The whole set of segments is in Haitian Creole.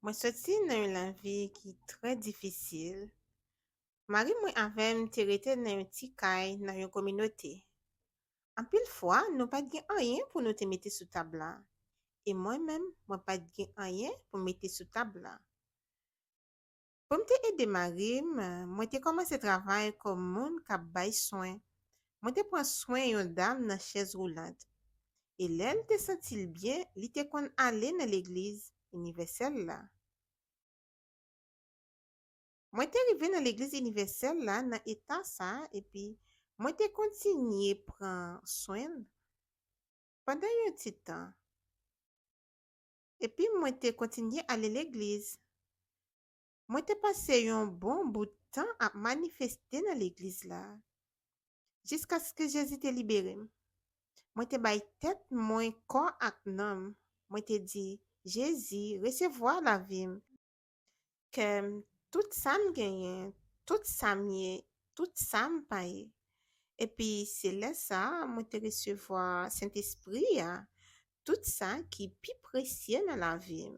Mwen soti nan yon lavi ki trè difisil. Mari mwen avè m te rete nan yon ti kay nan yon kominote. Anpil fwa, nou pa t gen anyen pou nou te mete sou tab la. E mwen menm, mwen pa t gen anyen pou m mete sou tab la. Pou m te ede mari m, mwen te kòmanse travay kòm moun k ap bay swen. Mwen te pran swen yon dam nan chèz woulant. E lè l te santi l byen, li te konn ale nan legliz Inivèsèl la. Mwen te rive nan legliz Inivèsèl la nan eta sa a epi mwen te kontinye pran swen l pandan yon ti tan. Epi mwen te kontinye ale legliz. Mwen te pase yon bon bout tan ap manifeste nan legliz la. Jiskaske Jezi te libere m. Mwen te bay tèt mwen kò ak nanm. Mwen te di, Jezi, resevwa lavi m. Kè m, tout sa m genyen, tout sa m ye, tout sa m pa ye. Epi se lè sa a mwen te resevwa Sentespri a, tout sa ki pi presye nan lavi m.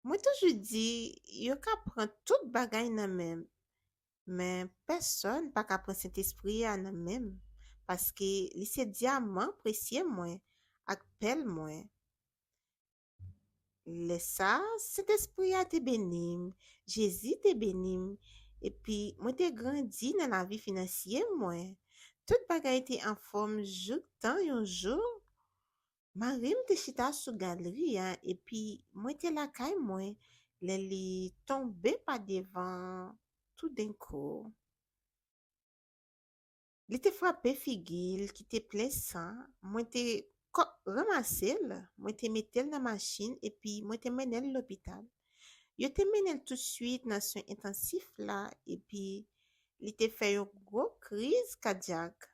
Mwen toujou di yo ka pran tout bagay nan men m, men pèsòn pa ka pran Sentespri a nan men m, paske li se dyaman presye mwen ak pèl mwen. Lè sa a, Sentespri a te beni m, Jezi te beni m, epi mwen te grandi nan lavi finansye mwen. Tout bagay te anfòm jouktan yon jou, mari m te chita sou galri a epi mwen te lakay mwen lè li tonbe pa devan toudenkou. Li te frape figi l ki te plen san, mwen te ranmase l, mwen te mete l nan machin epi mwen te mennen l lopital. Yo te mennen l tousuit nan swen entansif la epi li te fè yon gwo kriz kadyak.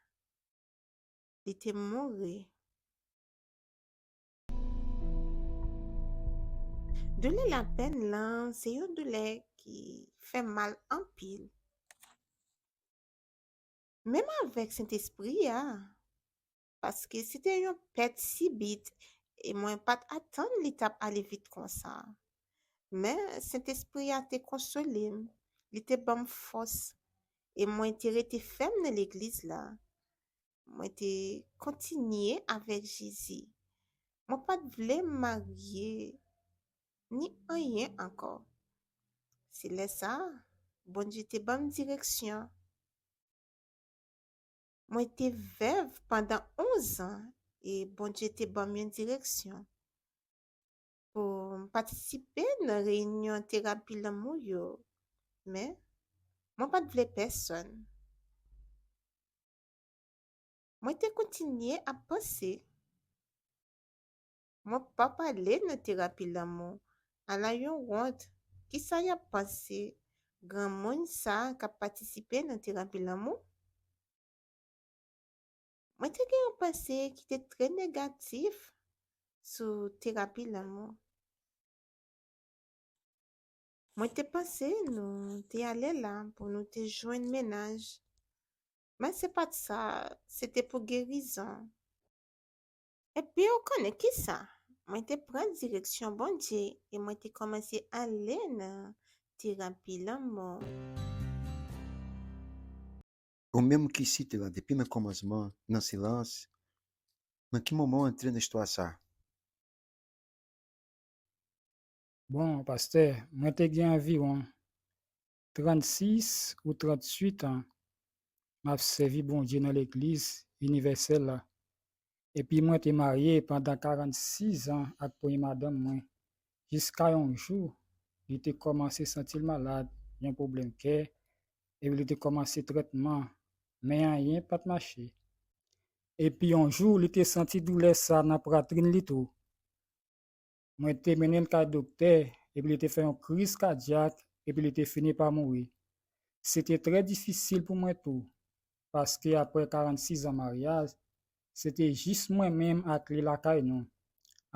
Li te mouri. Doulè lapenn lan se yon doulè ki fè mal anpil. menm avèk Sentespri a, paske se te yon pèt sibit e mwen pa t atann li t ap ale vit konsa. Men, Sentespri a te konsole m, li te ban m fòs, e mwen te rete fèm nan legliz la. Mwen te kontinye avèk Jezi. Mwen pa t vle m marye ni anyen ankò. Se lè sa a, Bondye te ban m direksyon. Mwen te vèv pandan onzan e Bondye te ban m yon direksyon pou m patisipe nan reyinyon terapi lanmou yo. Men, mwen pa t vle pèsonn. Mwen te kontinye ap panse. Mwen pa pale nan terapi lanmou. Ala yon wont! Kisa yap panse granmoun sa kap patisipe nan terapi lanmou? Mwen te gen yon panse ki te trè negatif sou terapi lanmou. Mwen te panse nou te ale la pou nou te jwenn menaj. Men se pat sa, se te pou gerizon. Epi ou konnen kisa? Mwen te pran direksyon Bondye e mwen te kòmanse ale nan terapi lanmò. Ou menm ki site la depi nan kòmansman nan silans, nan ki moman ou antre nan istwa sa? Bon, pastè, mwen te gen anviwon 36 ou 38 an m ap sèvi Bondye nan Legliz Inivèsèl la, epi mwen te marye pandan 46 an ak premye madanm mwen, jiska yon jou li te kòmanse santi l malad, yon pwoblèm kè, epi li te kòmanse trètman, men anyen pa t mache. Epi yon jou li te santi doulè sa nan pwatrin li tou. Mwen te mennen l kay doktè epi li te fè yon kriz kadyak epi li te fini pa mouri. Se te trè difisil pou mwen tou, paske apre 46 an maryaj, se te jis mwen menm ak li lakay nou.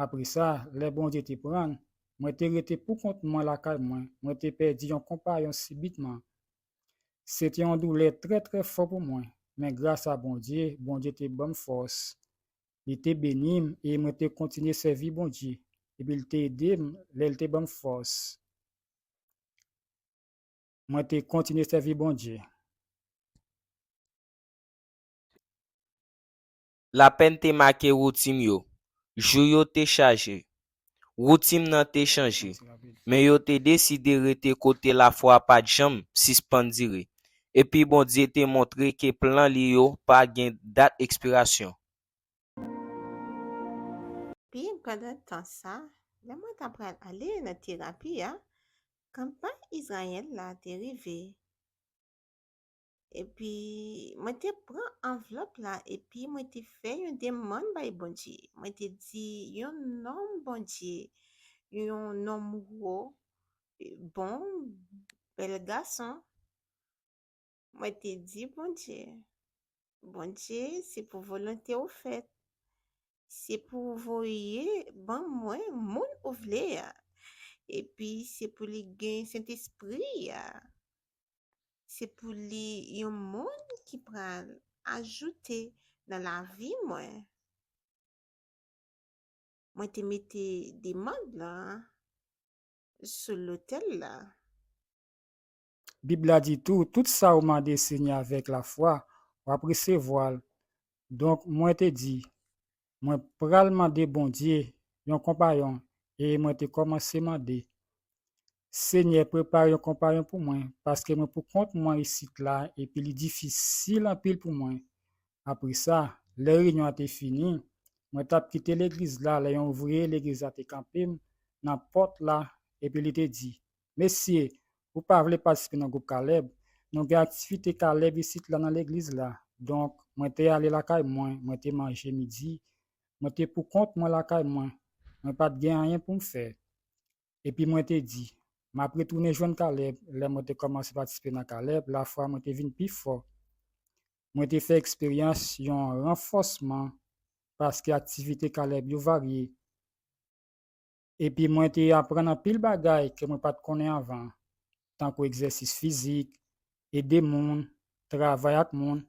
Apre sa, lè Bondye te pran l, mwen te rete poukont mwen lakay mwen, mwen te pèdi yon konpayon sibitman. Se te yon doulè trè trè fò pou mwen, men grasa Bondye, Bondye te ban m fòs Li te beni m e mwen te kontinye sèvi Bondye, epi l te ede m lè l te ban m fòs. Mwen te kontinye sèvi Bondye. Lapenn te make woutin yo. Jou yo te chaje. Woutin nan te chanje, men yo te deside rete kote lafwa pa t janm sispann dire. Epi Bondye te montre ke plan li yo pa gen dat ekspirasyon. Epi, pandan tan sa a, lè mwen t apral ale nan terapi a, kanpay Izrayèl la te rive. Epi, mwen te pran anvlòp la epi mwen te fè yon demann bay Bondye. Mwen te di, yon nonm Bondye, yon nonm wo, bon, bèl gason. Mwen te di Bondye, Bondye, se pou volonte ou fèt. Se pou ou voye ban mwen moun ou vle a. Epi, se pou li gen Sentespri a. Se pou li yon moun ki pral ajoute nan lavi mwen. Mwen te mete demand la sou lotel la. Bib la di tou, tout sa ou mande Senyè avèk lafwa, wap resevwal. Donk mwen te di, Mwen pral mande Bondye yon konpayon e mwen te kòmanse mande, Senyè prepare yon konpayon pou mwen paske mwen pou kont mwen isit la epi li difisil anpil pou mwen. Apre sa, lè reyinyon an te fini, mwen t ap kite legliz la lè yon ouvriye legliz la te kanpe m nan pòt la epi li te di, Mesye, ou pa vle patisipe nan gwoup Caleb? Nou gen aktivite Caleb isit la nan legliz la. Donk, mwen te ale lakay mwen, mwen te manje midi. Mwen te poukont mwen lakay mwen. Mwen pa t gen anyen pou m fè. Epi mwen te di, M ap retounen jwenn Caleb. Lè mwen te kòmanse patisipe nan Caleb, lafwa mwen te vin pi fò. Mwen te fè eksperyans yon ranfòsman paske aktivite Caleb yo varye. Epi mwen te aprann anpil bagay ke mwen pa t konnen anvan, tankou egzèsis fizik, ede moun, travay ak moun,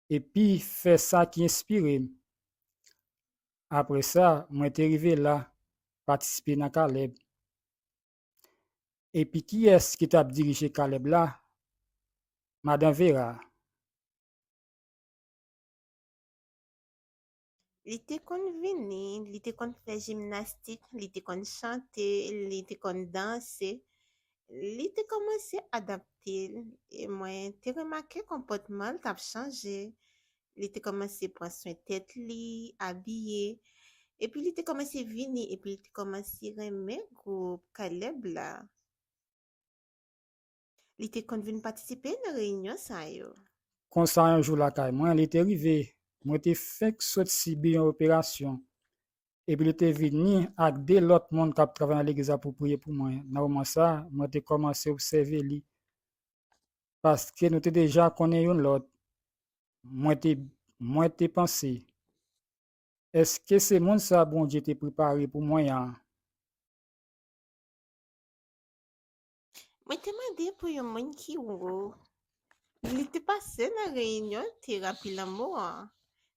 epi fè sa ki enspire m. Apre sa, mwen te rive la, patisipe nan Caleb. Epi kiyès ki t ap dirije Caleb la? Madan Vera. Li te konn vini, li te konn fè jimnastik, li te konn chante, li te konn danse. Li te kòmanse adapte l e mwen te remake konpòtman l t ap chanje. Li te kòmanse pran swen tèt li, abiye. Epi li te kòmanse vini epi li te kòmanse renmen gwoup Caleb la. Li te konn vin patisipe nan reyinyon sa yo. Konsa yon jou lakay mwen, li te rive, mwen te fenk sot sibi yon operasyon, epi li te vini ak de lòt moun k ap travay nan legliz la pou priye pou mwen. Nan moman sa a, mwen te kòmanse obsève li, paske nou te deja konnen youn lòt. Mwen te, mwen te panse, Èske se moun sa a Bondye te prepare pou mwen an? Mwen te mande pou yon moun ki wo. Li te pase nan reyinyon terapi lanmou an.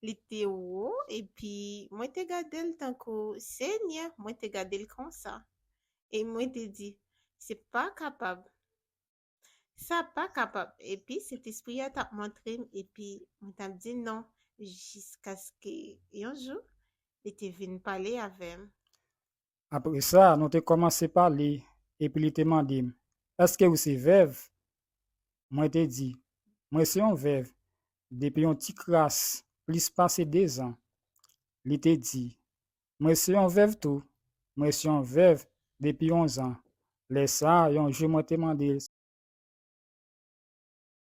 Li te wo epi mwen te gade l tankou Senyè, mwen te gade l konsa. E mwen te di, se pa kapab. Sa pa kapab. Epi Sentespri a t ap montre m epi mwen t ap di non jiskaske yon jou li te vin pale avè m. Apre sa, nou te kòmanse pale, epi li te mande m, Èske ou se vèv? Mwen te di, Mwen se yon vèv depi yon ti kras plis pase dezan. Li te di, Mwen se yon vèv tou, mwen se yon vèv depi onzan. Lè sa a, yon jou mwen te mande l si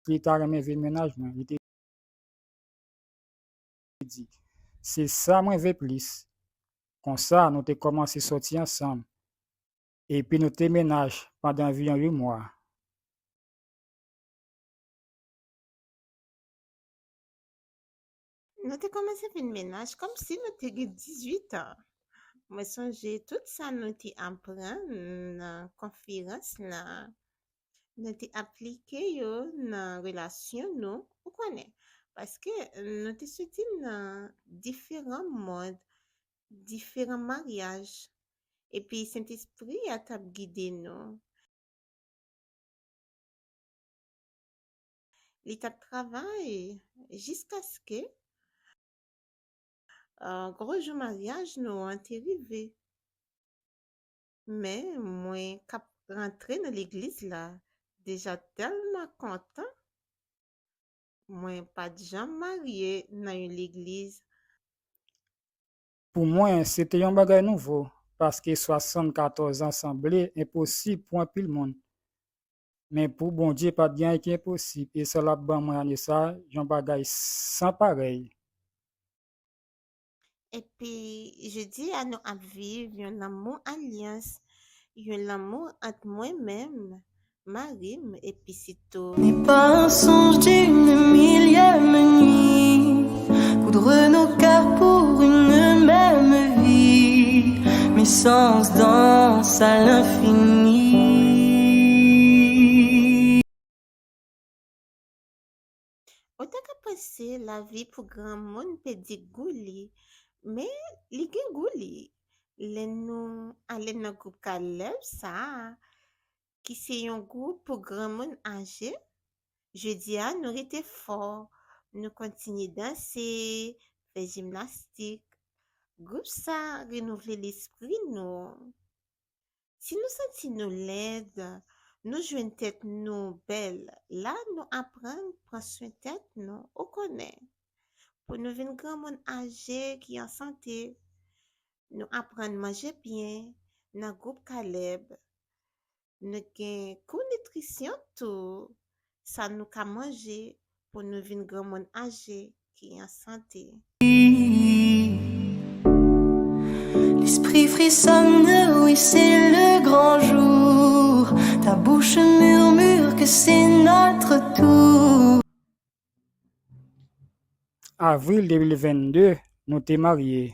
li ta renmen vin mennaj mwen. Li te. te di, Se sa mwen ve plis. Konsa, nou te kòmanse sòti ansanm, epi nou te mennaj pandan anviwon yon mwa. Nou te kòmanse vin mennaj kòmsi nou te gen dizuit an. Mwen sonje tout sa nou te aprann nan konferans lan nou te aplike yo nan relasyon nou, ou konnen, paske nou te soti nan diferan mond, diferan maryaj, epi Sentespri a t ap gide nou, li t ap travay jiskaske gwo jou maryaj nou an te rive. Men mwen kap rantre nan legliz la deja tèlman kontan mwen pat janm marye nan yon legliz. Pou mwen se te yon bagay nouvo paske 74 an sanble enposib pou anpil moun. Men pou Bondye pat gen anyen ki enposib e sa lap ban mwen ane sa yon bagay san parèy. Epi jodi a nou ap viv yon lanmou alyans, yon lanmou ant mwen menm, mari m epi sitou. Ni pa un songe d'une millième nuit Coudre nos cœurs pour une même vie Mais sans danse à l'infini Ou ta ka panse lavi pou granmoun pèdi gou li, men li gen gou li. Lè nou ale nan gwoup K-Love sa a, ki se yon gwoup pou granmoun aje, jodi a nou rete fò, nou kontinye danse, fè jimnastik. Gwoup sa renouvle lespri nou. Si nou santi nou lèd, nou jwenn tèt nou bèl la nou aprann pran swen tèt nou ou konnen pou nou vin granmoun aje ki an sante nou aprann manje byen nan gwoup Caleb nou gen kou nitrisyon tou sa nou ka manje pou nou vin granmoun aje ki an sante. L'esprit frissonne, oui c'est le grand jour Ta bouche murmure que c'est notre tour. Avril 2022, nou te marye.